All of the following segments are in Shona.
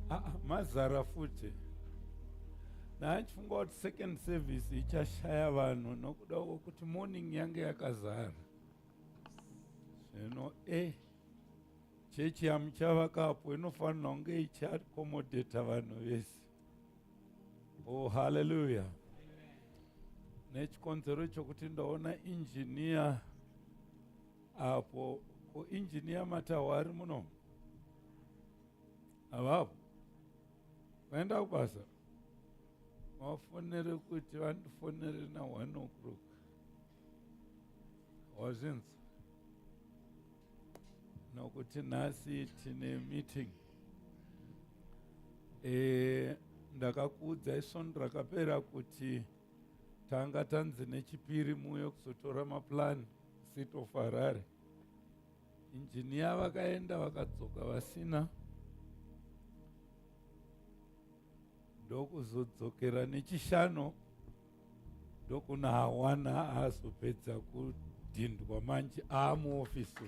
ah, ah, mazara futi ndaachifunga kuti second service ichashaya vanhu nokuda kwokuti morning yange yakazara zvino e eh, chechi yamuchavakapo inofanira kunge ichiakomodheta vanhu vese oh haleluya nechikonzero chokuti ndaona injiniya apo ko engineer matawa ari muno avapo vaenda kubasa vafonere kuti vandifonere na one o'clock wazvinzi nokuti nhasi tine meeting e, ndakakuudza isvondo rakapera kuti tanga tanzi nechipiri muuye kuzotora maplani seat of harare injiniya vakaenda vakadzoka vasina ndokuzodzokera nechishanu ndokuna hawana aazopedza kudhindwa manje aamuofisi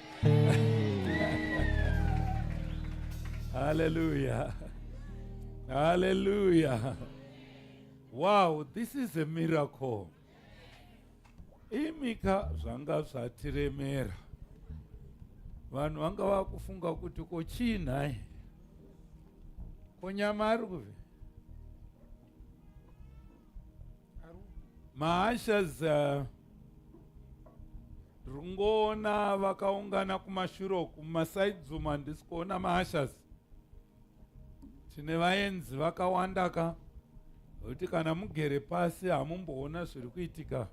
Hallelujah. Hallelujah. Wow, this is a miracle. Imika zvanga zvatiremera. Vanhu vanga vakufunga kuti ko chii nhai? Ko nyama ari kupi? Maasha's uh, ndiri kungoona vakaungana kumashure uku mumasaidzi umu handisi kuona maashas tine vaenzi vakawanda ka kuti kana mugere pasi hamumboona zviri kuitika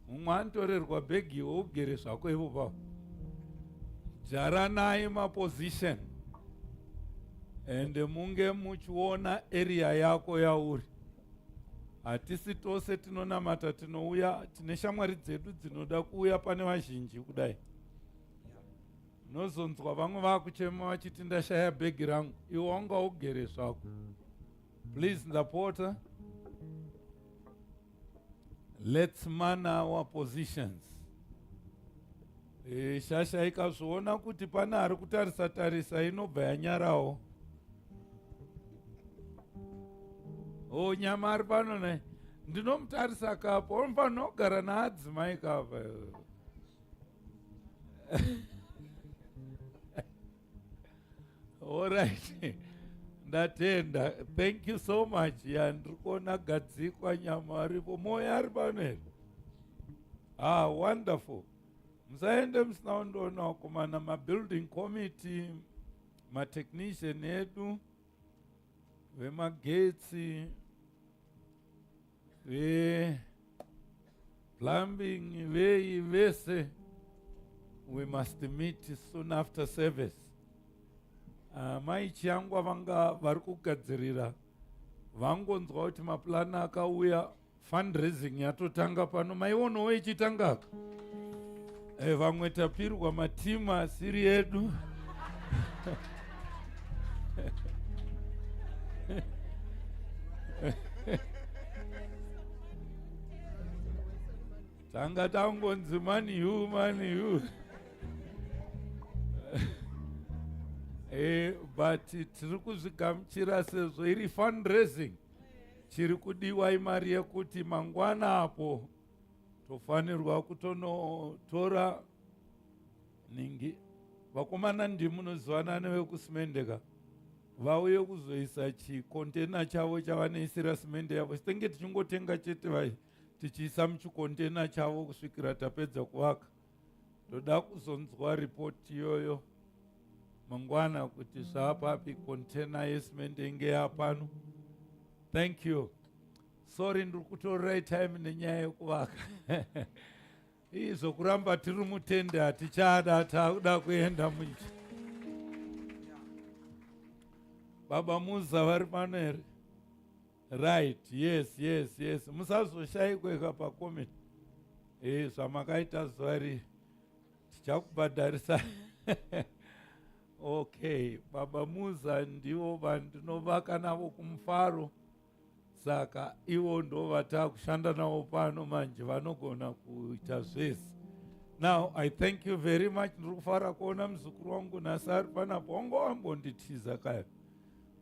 mumwe anotorerwa bhegi iwe ugere zvako ivo pavo jaranai maposition ende munge muchiona area yako yauri hatisi tose tinonamata tinouya tine shamwari dzedu dzinoda kuuya pane vazhinji kudai unozonzwa vamwe vakuchema vachiti ndashaya bhegi rangu iwe wanga ugere zvako please ndapota let's man our positions E, shasha ikazviona kuti pane ari kutarisa tarisa inobva yanyarawo. O oh, nyama ari pano naye ndinomutarisa kapo onofanogara naadzimai kapa orit ndatenda thank you so much ya ndiri kuona gadzikwa nyama aripo moya ari pano here ah wonderful musaende musina kundoona wakomana mabuilding committee matechnician edu vemagetsi veplumbing vei vese we must meet soon after service ah, mai chiyangwa vanga vari kugadzirira vangonzwa kuti mapulani akauya fundraising yatotanga pano maionawo ichitanga e, vamwe tapirwa matimu asiri edu tanga tangonzi mani yu mani yu e, but tiri kuzvigamuchira sezvo iri fundraising chiri kudiwa imari yekuti mangwana apo tofanirwa kutonotora ningi vakomana ndimunozivana nevekusimendeka vauye kuzoisa chikontena chavo chavanoisira simende yavo sitenge tichingotenga chete vai tichiisa muchikontena chavo kusvikira tapedza kuvaka ndoda kuzonzwa ripoti iyoyo mangwana kuti zvaapapi container yesimende inge yapano thank you sorry ndiri kutorera time nenyaya yekuvaka izvo kuramba tiri mutende hatichada taakuda kuenda muicho baba muza vari pano here right yes yes yes musazoshayikweka pakomeni e eh, zvamakaita zuva rii tichakubhadharisa okay baba muza ndivo vandinovaka navo kumufaro saka ivo ndo vataa kushanda navo pano manje vanogona kuita zvese now i thank you very much ndiri kufara kuona muzukuru wangu nhasi ari panapo wango wambonditiza kayo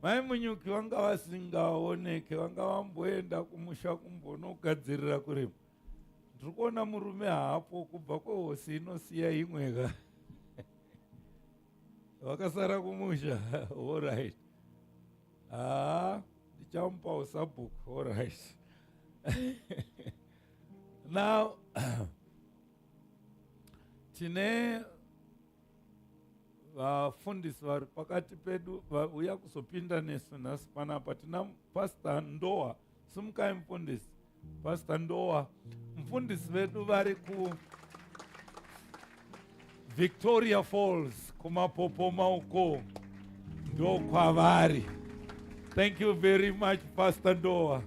Mai Munyuki vanga vasingaoneke, vanga vamboenda kumusha kumbonogadzirira kurima. Ndiri kuona murume hapo kubva kwehosi inosiya imwe ka vakasara kumusha allright haa ndichamupa usabhuku allright now tine vafundisi vari pakati pedu vauya kuzopinda nesu nhasi panapa tina pasta ndoa simukai mfundisi pasta ndoa mfundisi vedu vari ku victoria falls kumapopoma uko ndokwavari thank you very much pasta ndoa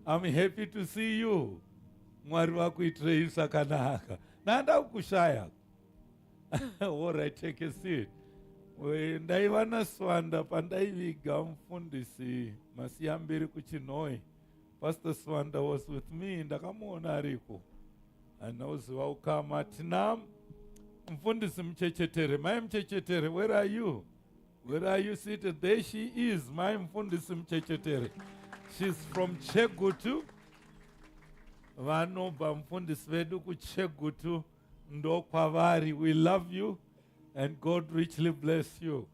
im happy to see you mwari vakuitirei zvakanaka nanda kukushaya Alright, take a seat. We, ndaiva naswanda pandaiviga mufundisi masiyambiri kuchinoi pastor swanda was with me ndakamuona ariko anoziva ukama tina mfundisi muchechetere mai muchechetere where are you where are you seated there she is mai mfundisi muchechetere she's from chegutu vanobva mfundisi vedu kuchegutu ndokwavari we love you and god richly bless you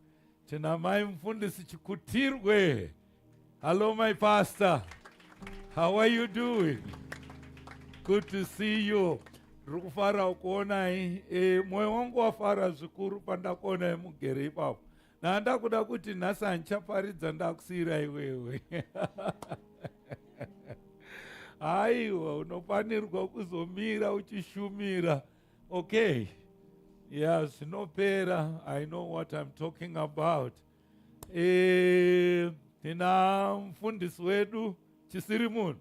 tina mai mufundisi chikutirwe hallo my pastor how are you doing good to see you ndiri kufara kuonai e, mwoyo wangu wafara zvikuru pandakuonai mugere ipapo Nandakuda kuti nhasi handichaparidza ndakusiyira iwewe. Aiwa unofanirwa kuzomira uchishumira. Okay. Yeah, zvinopera. I know what I'm talking about. Eh, tina mfundisi wedu chisiri munhu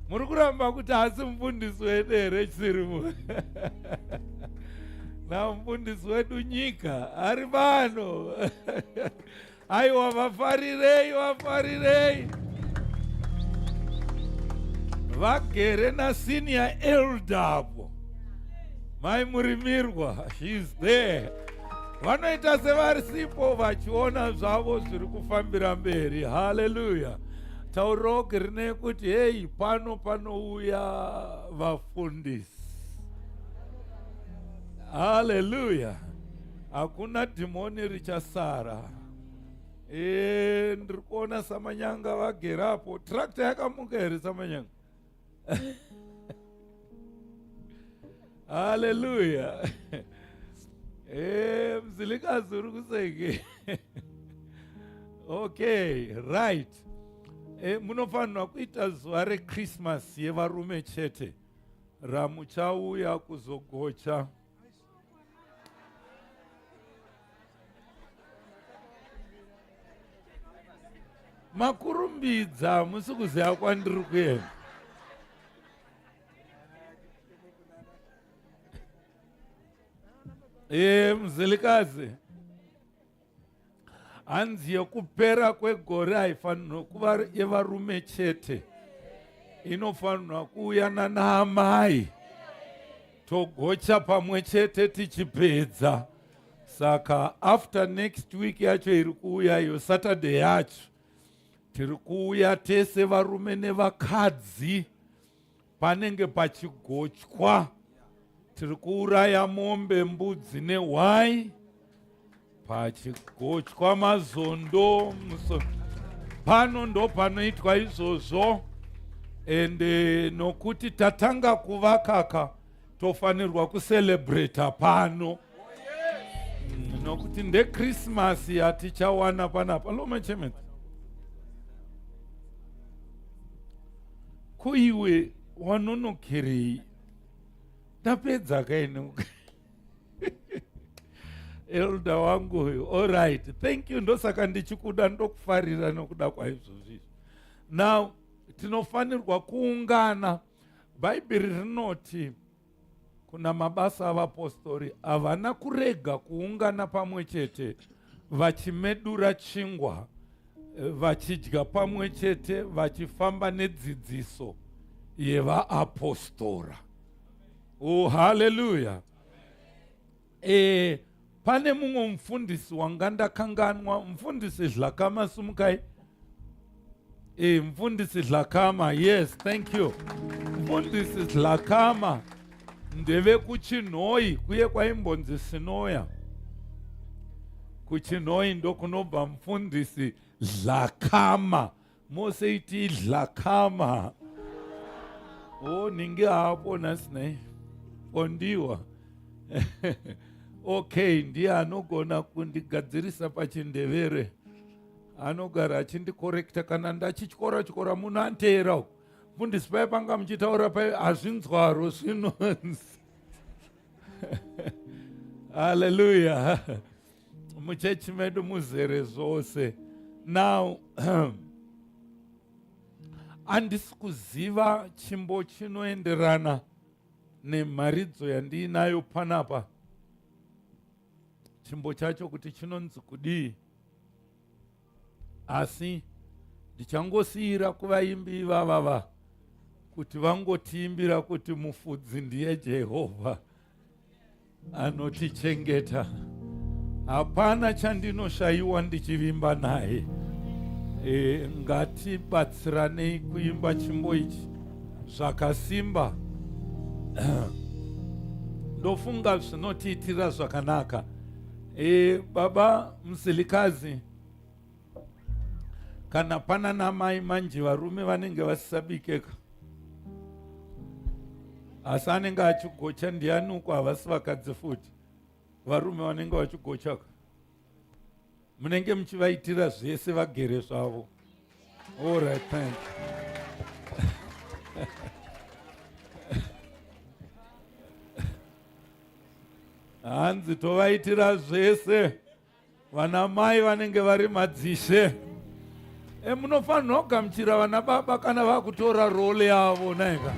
muri kuramba kuti hasi mufundisi wedu here chisiri munhu na mufundisi wedu nyika ari pano aiwa vafarirei vafarirei vagere nasenior elder apo mai murimirwa sheis there vanoita sevarisipo vachiona zvavo zviri kufambira mberi haleluya tauroki rine kuti heyi pano panouya vafundisi haleluya hakuna dhimoni richasara e, ndiri kuona samanyanga vagera apo trakta yakamuka here samanyanga haleluya e, mzilikazi uri kuseke okay right e, munofanirwa kuita zuva rechristmas yevarume chete ramuchauya kuzogocha makurumbidza musi kuziva kwandiri kuenda ee eh, muzilikazi hanzi yekupera kwegore haifanirwa kuva yevarume chete inofanirwa kuuyana naamai togocha pamwe chete tichipedza saka after next week yacho iri kuuya iyo saturday yacho tiri kuuya tese varume nevakadzi panenge pachigochwa tiri kuuraya mombe mbudzi nehwai pachigochwa mazondo muso pano ndo panoitwa izvozvo ende nokuti tatanga kuvakaka tofanirwa kucelebrata pano nokuti ndekrismasi yatichawana panapa lomechement ko iwe wanonokerei ndapedza kaine elda wangu uyu allright thank you ndosaka ndichikuda ndokufarira nokuda kwaizvozvizvi now tinofanirwa kuungana bhaibheri rinoti kuna mabasa avapostori havana kurega kuungana pamwe chete vachimedura chingwa eh, vachidya pamwe chete vachifamba nedzidziso yevaapostora oh haleluya e, pane mumwe mufundisi wanga ndakanganwa mufundisi zhlakama sumukai e, mufundisi zhlakama yes thank you mufundisi zhlakama ndevekuchinhoi kuye kwaimbonzi sinoya kuchinhoi ndokunobva mufundisi zhlakama mose iti dhlakama o nhingi haapo nhasi nai ondiwa okay ndiye anogona kundigadzirisa pachindevere anogara achindikorekta kana ndachityora tyora muno anteera uku mundisi paye panga muchitaura paye hazvinzwaro zvinonzi haleluya muchechi medu muzere zvose now handisi kuziva chimbo chinoenderana nemharidzo yandiinayo panapa chimbo chacho kuti chinonzi kudii asi ndichangosiira kuvaimbi ivavava kuti vangotiimbira kuti mufudzi ndiye jehovha anotichengeta hapana chandinoshayiwa ndichivimba naye e, ngatibatsiranei kuimba chimbo ichi zvakasimba ndofunga zvinotiitira zvakanaka E, baba Msilikazi, kana pana namai manje varume vanenge vasisabikeka asi anenge achigocha ndiani uko havasi vakadzi futi varume vanenge vachigochaka munenge muchivaitira zvese vagere zvavo All right, thank you. hanzi tovaitira zvese vana mai vanenge vari madzishe e munofanirwa kugamuchira vana baba kana vakutora role yavo naika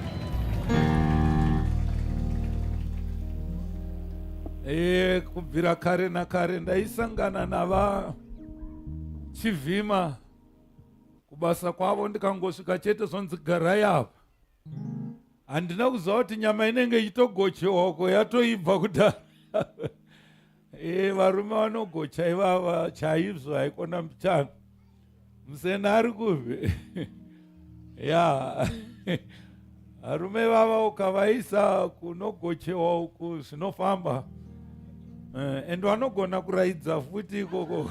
e kubvira kare nakare ndaisangana nava chivhima kubasa kwavo ndikangosvika chete zvonzi garai apa handina kuziva kuti nyama inenge ichitogochewako yatoibva kudhara e, varume vanogocha ivava chaizvo haikona mchana musena ari kuve ya arume vava ukavaisa kunogochewa uku zvinofamba eh, and vanogona kuraidza futi ikoko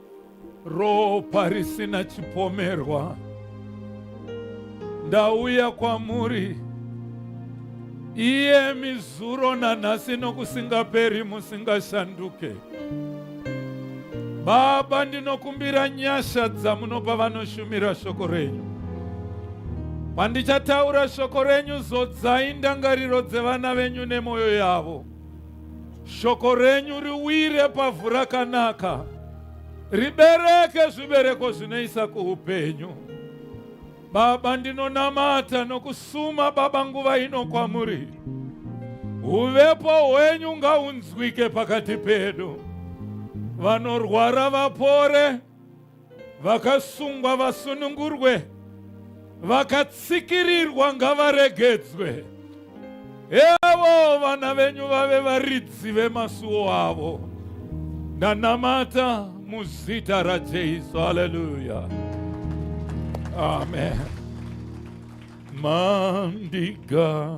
Ropa risina chipomerwa ndauya kwamuri iye mizuro nanhasi nokusingaperi musingashanduke. Baba, ndinokumbira nyasha dzamunopa vanoshumira shoko renyu. Pandichataura shoko renyu, zodzai ndangariro dzevana venyu nemwoyo yavo. Shoko renyu riwire pavhu rakanaka, ribereke zvibereko zvinoisa kuupenyu. Baba, ndinonamata nokusuma Baba nguva ino kwamuri, uvepo hwenyu ngaunzwike pakati pedu, vanorwara vapore vakasungwa vasunungurwe vakatsikirirwa ngavaregedzwe evo vana venyu vave varidzi vemasuwo avo ndanamata muzita rajesu haleluya amen mandiga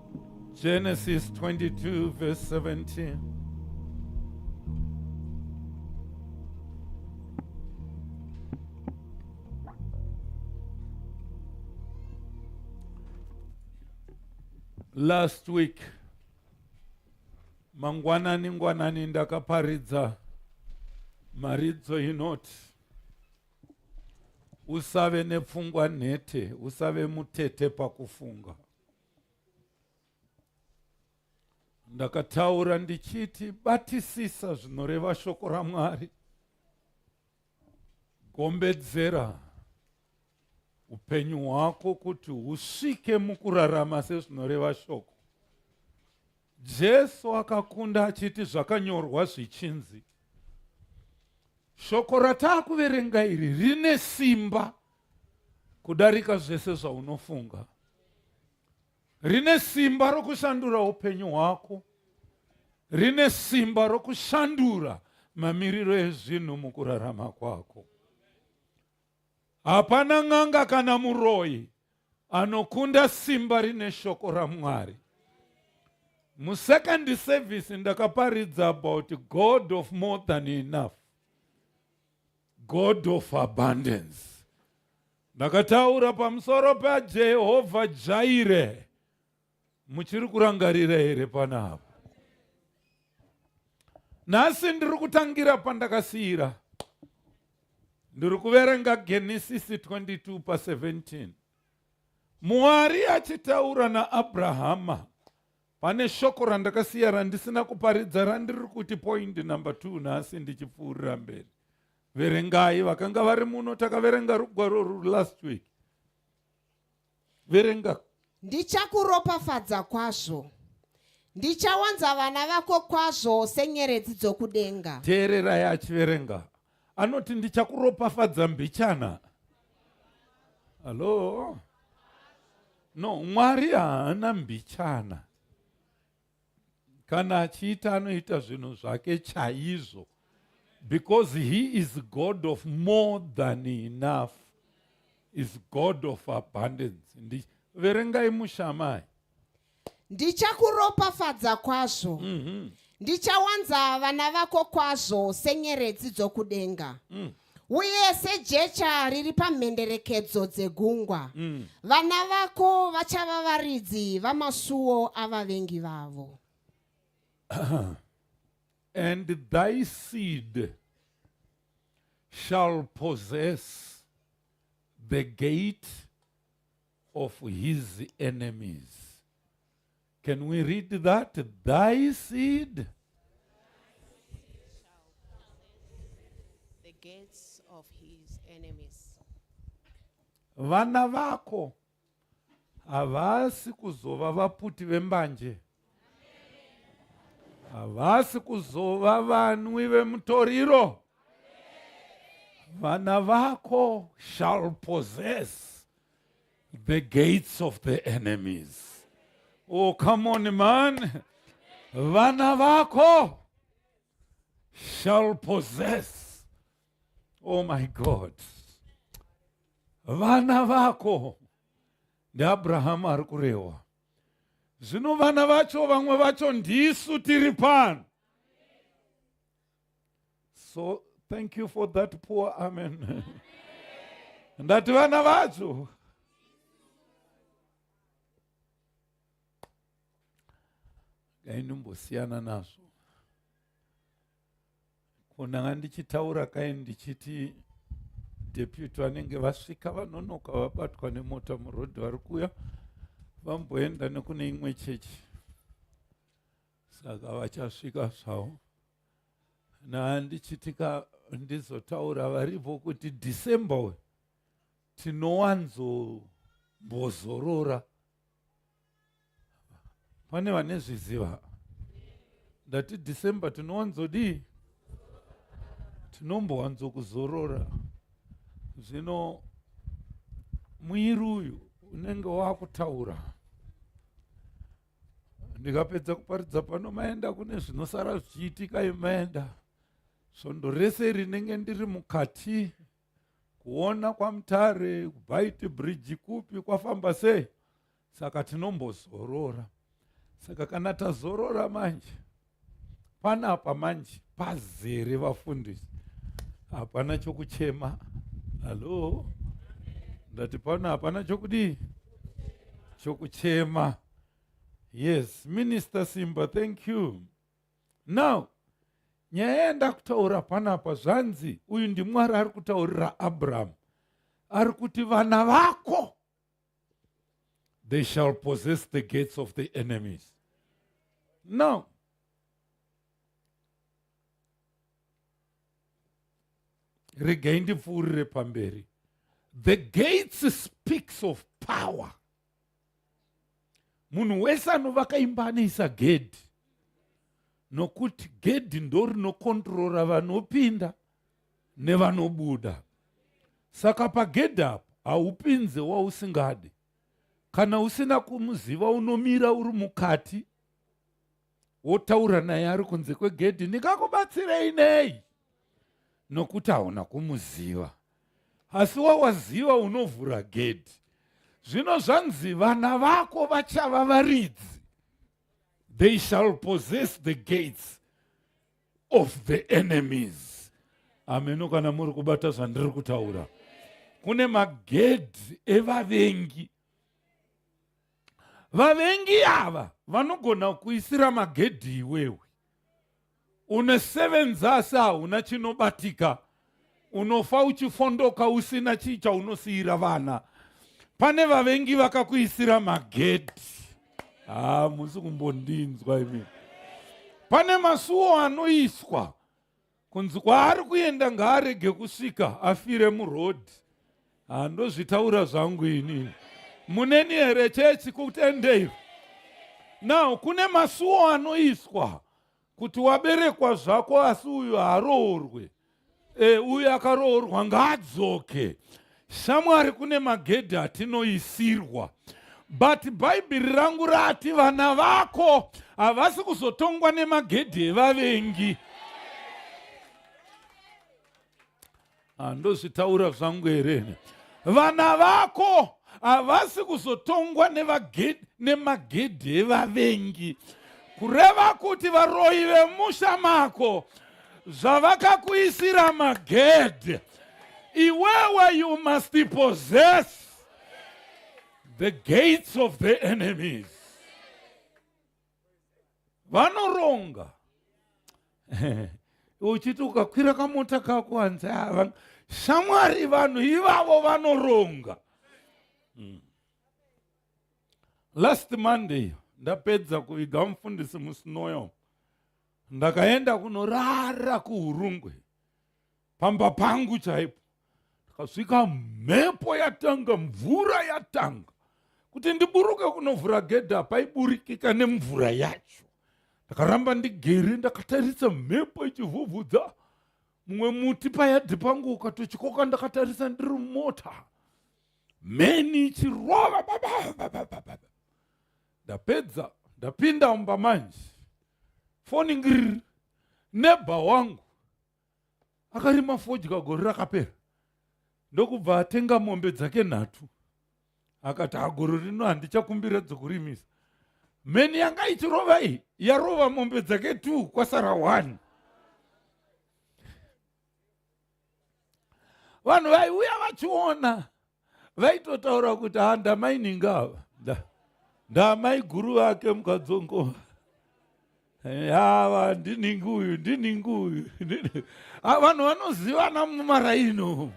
Genesis 22 verse 17. Last week, mangwanani ngwanani ndakaparidza mharidzo inoti usave nepfungwa nhete usave mutete pakufunga ndakataura ndichiti batisisa zvinoreva shoko ramwari gombedzera upenyu hwako kuti husvike mukurarama sezvinoreva shoko jesu akakunda achiti zvakanyorwa zvichinzi shoko rataakuverenga iri rine simba kudarika zvese zvaunofunga rine simba rokushandura upenyu hwako rine simba rokushandura mamiriro ezvinhu mukurarama kwako hapana n'anga kana muroyi anokunda simba rine shoko ramwari musecond service ndakaparidza about god of more than enough God of abundance. Ndakataura pamusoro paJehovha Jaire. Muchiri kurangarira here panapa? Nhasi ndiri kutangira pandakasiyira. Ndiri kuverenga Genesis 22 pa 17. Mwari achitaura naAbrahama Pane shoko randakasiya randisina kuparidza randiri kuti point number two nhasi ndichipfuurira mberi. Verengai vakanga vari muno takaverenga rugwaro ruri last week. Verenga. Ndichakuropafadza kwazvo. Ndichawanza vana vako kwazvo senyeredzi dzokudenga. Teererai achiverenga. anoti ndichakuropafadza mbichana hallo no mwari haana mbichana kana achiita anoita zvinhu zvake chaizvo because he is god of more than enough is god of abundance ndiverengai mushamai ndichakuropafadza kwazvo mm -hmm. ndichawanza vana vako kwazvo senyeredzi dzokudenga mm. uye sejecha riri pamhenderekedzo dzegungwa mm. vana vako vachava varidzi vamasuo avavengi vavo and thy seed shall possess the gate of his enemies. Can we read that? Thy seed. The gates of his enemies. Vana vako havasi kuzova vaputi vembanje. havasi kuzova vanwi vemutoriro vana vako shall possess the gates of the enemies oh come on man vana vako shall possess oh my god vana vako ndiabrahamu ari kurehwa zvino vana vacho vamwe vacho ndisu tiri pano so thank you for that poor amen ndati vana vacho gainimbosiyana nazvo kunanga ndichitaura kai ndichiti deputy vanenge vasvika vanonoka vabatwa nemota muroad vari kuuya vamboenda nekune imwe chechi saka vachasvika zvavo nandichitika ndizotaura varipo kuti december uyu tinowanzombozorora pane vane zviziva ndati december tinowanzodii tinombowanzokuzorora zvino mwiri uyu unenge wakutaura ndikapedza kuparidza pano maenda kune zvinosara zvichiitika imaenda svondo rese rinenge ndiri mukati kuona kwamutare kubaiti bridge kupi kwafamba sei saka tinombozorora saka kana tazorora manje panapa manje pazere vafundisi hapana chokuchema hallo ndati pano hapana chokudii chokuchema yes minister simba thank you now nyaya yandakutaura panapa zvanzi uyu ndimwari ari kutaurira abrahamu ari kuti vana vako they shall possess the gates of the enemies now regai ndipfuurire pamberi the gates speaks of power munhu wese anovaka imba anoisa gedhi nokuti gedhi ndo rinokontrora vanopinda nevanobuda saka pagedhi apo haupinze wausingadi kana usina kumuziva unomira uri mukati wotaura naye ari kunze kwegedhi ndingakubatsirei nei nokuti hauna kumuziva asi wawaziva unovhura gedhi zvino zvanzi vana vako vachava varidzi they shall possess the gates of the enemies ameno kana muri kubata zvandiri kutaura kune magedhi evavengi vavengi ava vanogona kuisira magedhi iwewe une seven zasi hauna chinobatika unofa uchifondoka usina chii chaunosiyira vana pane vavengi vakakuisira magedhi haa ah, musi kumbondinzwa imi pane masuwo anoiswa kunzi kwaari kuenda ngaarege kusvika afire murodhi handozvitaura zvangu inini muneni here chechi kutendeiro now kune masuwo anoiswa kuti waberekwa zvako asi uyu haaroorwe e, uyu akaroorwa ngaadzoke Shamwari kune magedhi atinoisirwa but bhaibheri rangu rati vana vako havasi kuzotongwa nemagedhi evavengi handozvitaura ah, zvangu here vana vako havasi kuzotongwa nemagedhi evavengi kureva kuti varoyi vemusha mako zvavakakuisira magedhe iwewe you must possess the gates of the enemies vanoronga uchiti ukakwira kamota kako hanzi ah, shamwari vanhu ivavo vanoronga mm. last monday ndapedza kuviga mufundisi musinoyo ndakaenda kunorara kuhurungwe pamba pangu chaipo ndakasvika mhepo yatanga mvura yatanga kuti ndiburuke kunovhura gedha paiburikika nemvura yacho ndakaramba ndigere ndakatarisa mhepo ichivhuvhudza mumwe muti payadhi pangu ukatochikoka ndakatarisa ndiri mota mheni ichirova ndapedza ndapinda mumba manje foni ngiriri nebha wangu akarima fodya gore rakapera ndokubva atenga mombe dzake nhatu akati hagoro rino handichakumbira dzokurimisa mheni yanga ichirova iyi yarova mombe dzake t kwasara one vanhu vaiuya vachiona vaitotaura kuti ha ndamaininga ava ndamai guru vake mukadzongo yava eh, ndiningi uyu ndiningi uyu ah, vanhu vanozivana mumaraino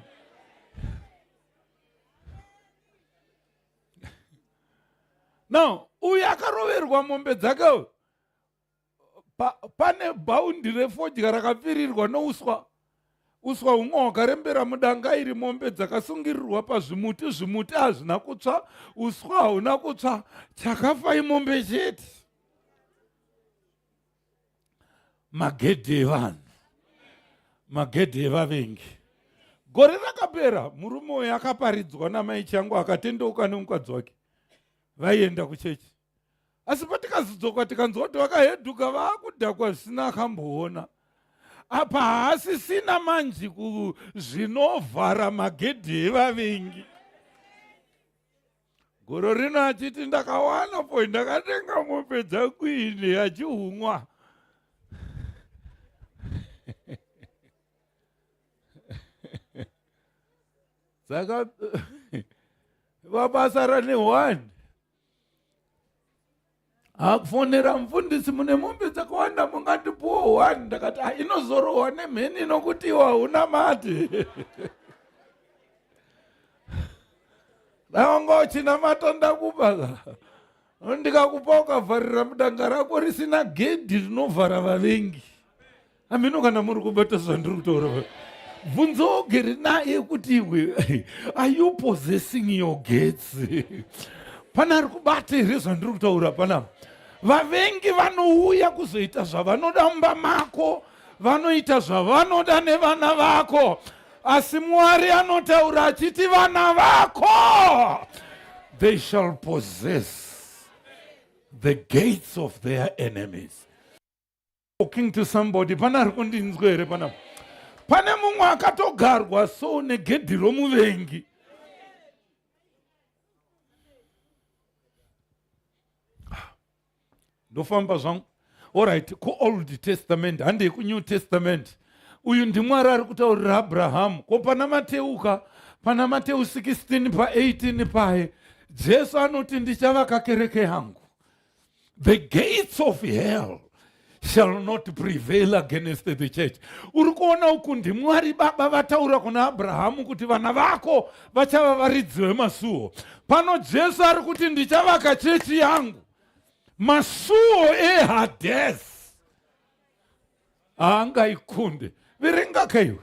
now uyu akaroverwa mombe dzake pa, pane bhaundi refodya rakapfirirwa nouswa uswa humwe hwakarembera mudanga iri mombe dzakasungirirwa pazvimuti zvimuti hazvina kutsva uswa hauna kutsva chakafa imombe chete magedhi evanhu magedhi evavengi gore rakapera murume uyo akaparidzwa namai changu akatendeuka nemukadzi wake vaienda kuchechi asi patikazodzoka tikanzwa kuti vakaheduka vakudhakwa zvisina akamboona apa haasisina manji kuzvinovhara magedhi evavengi goro rino achiti ndakawana po ndakatenga mombe dzakuini achihumwa saka vabasa rane one akufonera mufundisi mune mombe dzakawanda mungatipuwo one ndakati ah, inozorohwa nemheni inokuti iwo hauna mati daonga uchinamata ndakupa ndikakupa ukavharira mudanga rako risina gedhi rinovhara vavengi hameno kana muri kubata zvandiri kutaura bvunzo ogere naye kuti iwe are you possessing your gates pana ari kubata here zvandiri kutaura panapa vavengi vanouya kuzoita zvavanoda mumba mako vanoita zvavanoda nevana vako asi mwari anotaura achiti vana vako they shall possess the gates of their enemies talking to somebody pana ari kundinzwa here panapa pane mumwe akatogarwa so negedhi romuvengi ndofamba zvangu orit kuold testament handei kunew testament uyu ndimwari ari kutaurira abrahamu ko pana mateuka pana mateu 16 pa18 paye jesu anoti ndichavaka kereke yangu the gates of hell shall not prevail against the church uri kuona uku ndimwari baba vataura kuna abrahamu kuti vana vako vachava varidzi vemasuo pano jesu ari kuti ndichavaka chechi yangu masuo ehades haangaikunde verenga kaiwe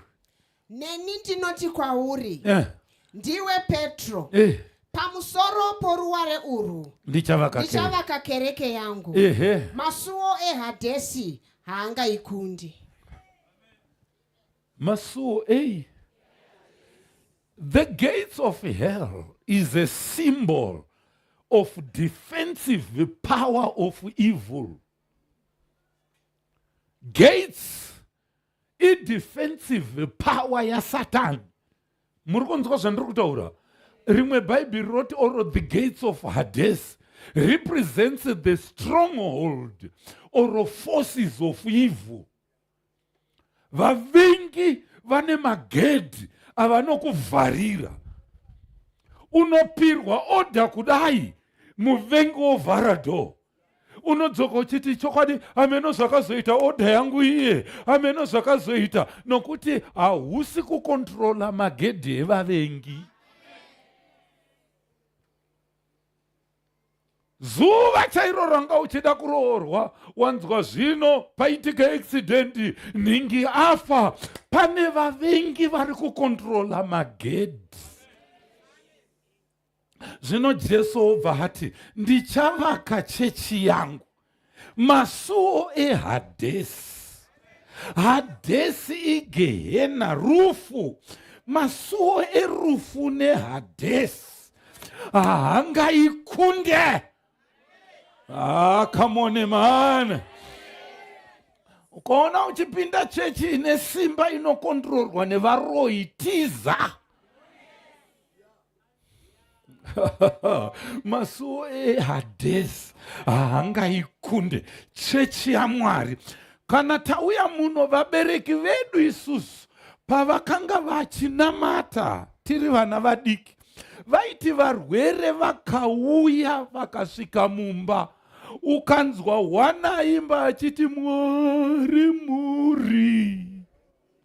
neni ndinoti kwauri eh. ndiwe petro eh. pamusoro poruware urwu ndichavaka kereke yangu eh. masuwo ehadhesi haangaikundi masuwo ei the gates of hell is a symbol of defensive power of evil gates idefensive power yasatani muri kunzwa zvandiri kutaura rimwe bhaibheri roti or the gates of hades represents the stronghold or forces of evil vavengi vane magedhi avanokuvharira unopirwa oda kudai muvengi wovhara dhoo unodzoka uchiti chokwadi hameno zvakazoita odha yangu iye hameno zvakazoita nokuti hausi kukontrola magedhi evavengi zuva chairo ranga uchida kuroorwa wanzwa zvino paitika eksidendi nhingi afa pane vavengi vari kukontrola magedhi zvino jesu obva hati ndichavaka chechi yangu masuo ehadhesi hadhesi igehena rufu masuo erufu nehadhesi haangaikunde ah, come on man ukaona uchipinda chechi ine simba inokondirorwa nevaroyi tiza masuwo ehades haangaikunde chechi yamwari kana tauya muno vabereki vedu isusu pavakanga vachinamata tiri vana vadiki vaiti varwere vakauya vakasvika mumba ukanzwa hwana imba achiti mwari muri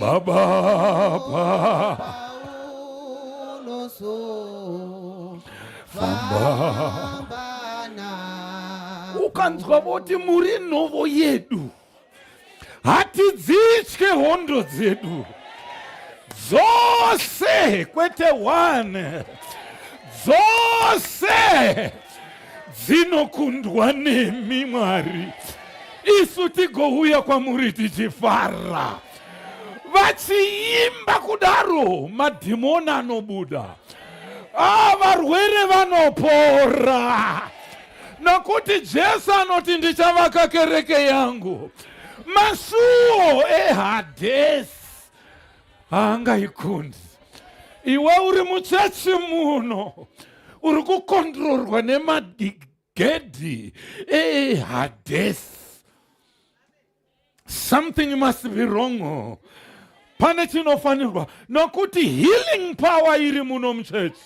Baba ukanzwa voti muri nhovo yedu hatidzitye hondo dzedu dzose kwete one dzose dzinokundwa nemi Mwari, isu tigouya kwamuri tichifara. Vachiimba kudaro, madhimoni anobuda, ah, varwere vanopora, nokuti Jesu anoti ndichavaka kereke yangu masuo ehadesi haangaikundi iwe uri muchechi muno uri kukondrorwa nemagedhi ehadesi something must be wrong pane chinofanirwa nokuti healing power iri muno muchechi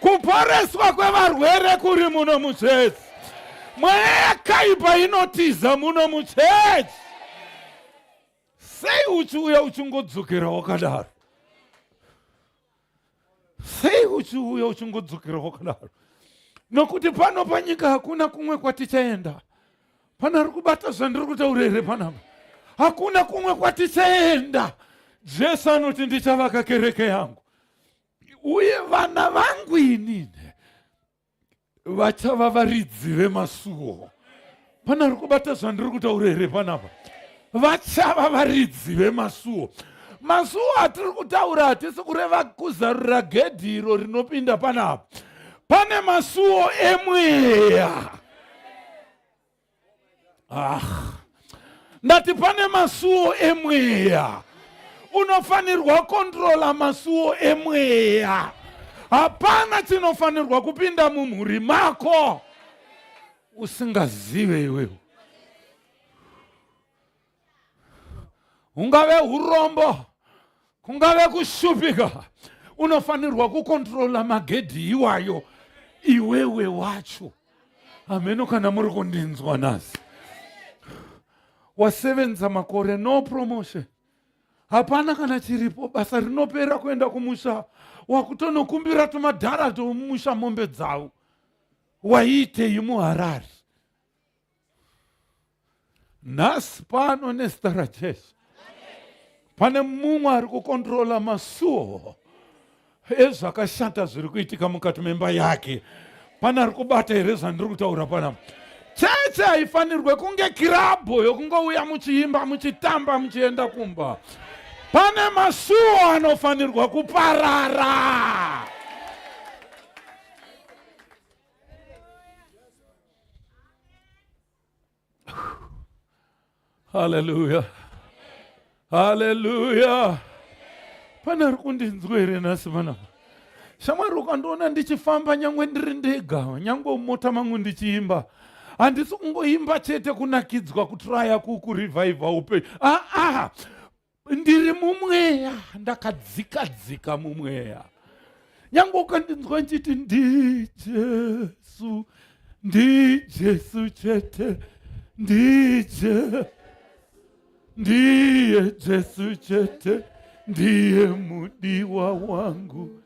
kuporeswa kwevarwere kuri muno muchechi mweya yakaipa inotiza muno muchechi Sei uchiuya uchingodzokera wakadaro? Sei uchiuya uchingodzokera wakadaro? Nokuti pano panyika hakuna kumwe kwatichaenda. Pana ari kubata zvandiri kutaura here panapa? Hakuna kumwe kwatichaenda. Jesu anoti ndichavaka kereke yangu uye vana vangu inini vachava varidzi vemasuwo pana ari kubata zvandiri kutaura here panapa vachava varidzi vemasuwo masuwo atiri kutaura hatisi kureva kuzarura gedhi iro rinopinda panapa pane masuwo emweya ah. ndati pane masuwo emweya unofanirwa kontrola masuwo emweya hapana chinofanirwa kupinda mumhuri mako usingazive iwewe ungave urombo kungave kushupika unofanirwa kukontrola magedhi iwayo iwewe wacho hameno kana muri kundinzwa nhasi wasevenza makore no promotion hapana kana chiripo basa rinopera kuenda kumusha wakutonokumbira tumadhara tomumusha mombe dzavo waiitei muharari nhasi pano nezita rajesu pane mumwe ari kukontrola masuo ezvakashata zviri kuitika mukati memba yake pane ari kubata here zvandiri kutaura panapa cheche haifanirwe kunge kirabho yokungouya muchiimba muchitamba muchienda kumba pane masuo anofanirwa kuparara Hallelujah. Hallelujah. Pana ari kundinzwa here nhasi panapa? Shamwari ukandiona ndichifamba nyangwe ndiri ndega, nyangwe mumota mangu ndichiimba. Handisi kungoimba chete kunakidzwa kutraya kukurevivha upenyu. Ah ah. ndiri mumweya ndakadzika dzika mumweya nyange ukandinzwa ndichiti ndijesu ndijesu chete ndije ndiye jesu chete ndiye mudiwa wangu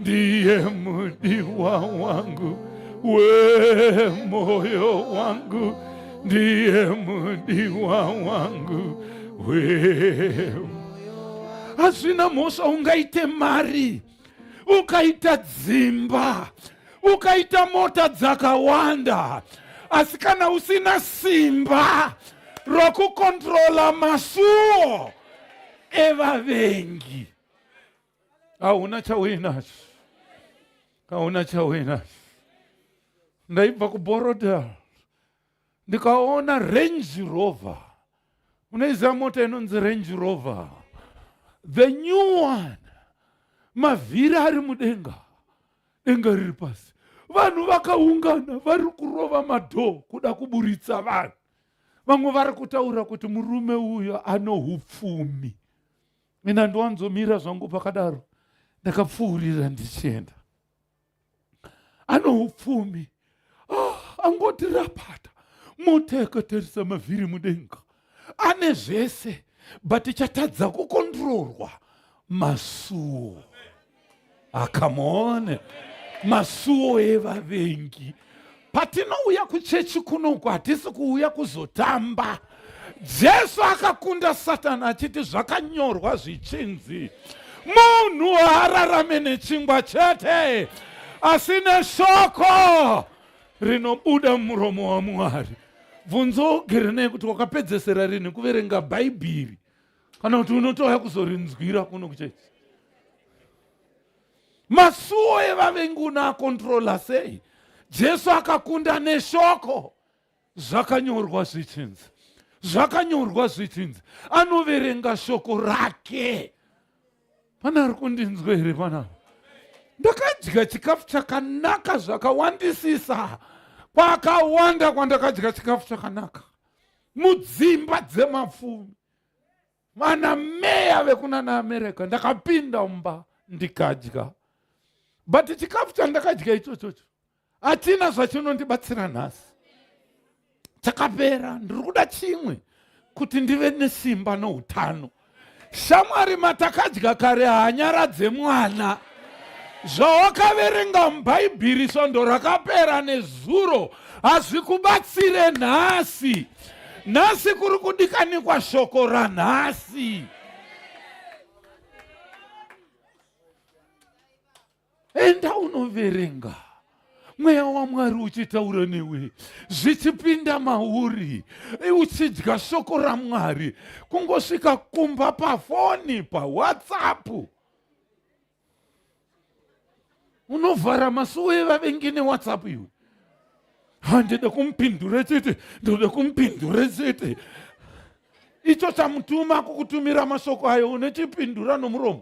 ndiye mudiwa wangu wemoyo wangu ndiye mudiwa wangu we hazvina mhosva ungaite mari ukaita dzimba ukaita mota dzakawanda asi kana usina simba rokukontrola masuo evavengi hauna chauinacho hauna chauinacho ndaibva kuborodel ndikaona range rover unoiziva mota inonzi range rover the new one mavhiri ari mudenga denga riri pasi vanhu vakaungana vari kurova madhoo kuda kuburitsa vanhu vamwe vari kutaura kuti murume uyo anoupfumi mina ndowanzomira zvangu pakadaro ndakapfuurira ndichienda anoupfumi ah, angoti rapata mota yakatarisa mavhiri mudenga ane zvese but chatadza kukondirorwa masuwo akamone ah, masuwo evavengi patinouya kuchechi kunoku hatisi kuuya kuzotamba jesu akakunda satani achiti zvakanyorwa zvichinzi munhu haararame nechingwa chete asi neshoko rinobuda muromo wamwari bvunzo ugere nei kuti wakapedzesera rinhi kuverenga bhaibheri kana kuti unotouya kuzorinzwira kuno kuchechi masuwo evavengi unaakontrola sei jesu akakunda neshoko zvakanyorwa zvichinzi zvakanyorwa zvichinzi anoverenga shoko rake pane ari kundinzwa here panapa ndakadya chikafu chakanaka zvakawandisisa kwakawanda kwandakadya chikafu chakanaka mudzimba dzemapfumi vana meya vekuna naamerica ndakapinda mumba ndikadya but chikafu chandakadya ichochocho hatina zvachinondibatsira nhasi chakapera ndiri kuda chimwe kuti ndive nesimba noutano shamwari matakadya kare hanyara dzemwana zvawakaverenga mubhaibhiri svondo rakapera nezuro hazvikubatsire nhasi nhasi kuri kudikanikwa shoko ranhasi enda unoverenga mweya wamwari uchitaura newe zvichipinda mauri uchidya shoko ramwari kungosvika kumba pafoni pawhatsapp unovhara masuwo evavengi newhatsapp iwe handida kumupindure chete ndoda kumupindure chete icho chamutuma kukutumira mashoko ayo unechipindura nomuromo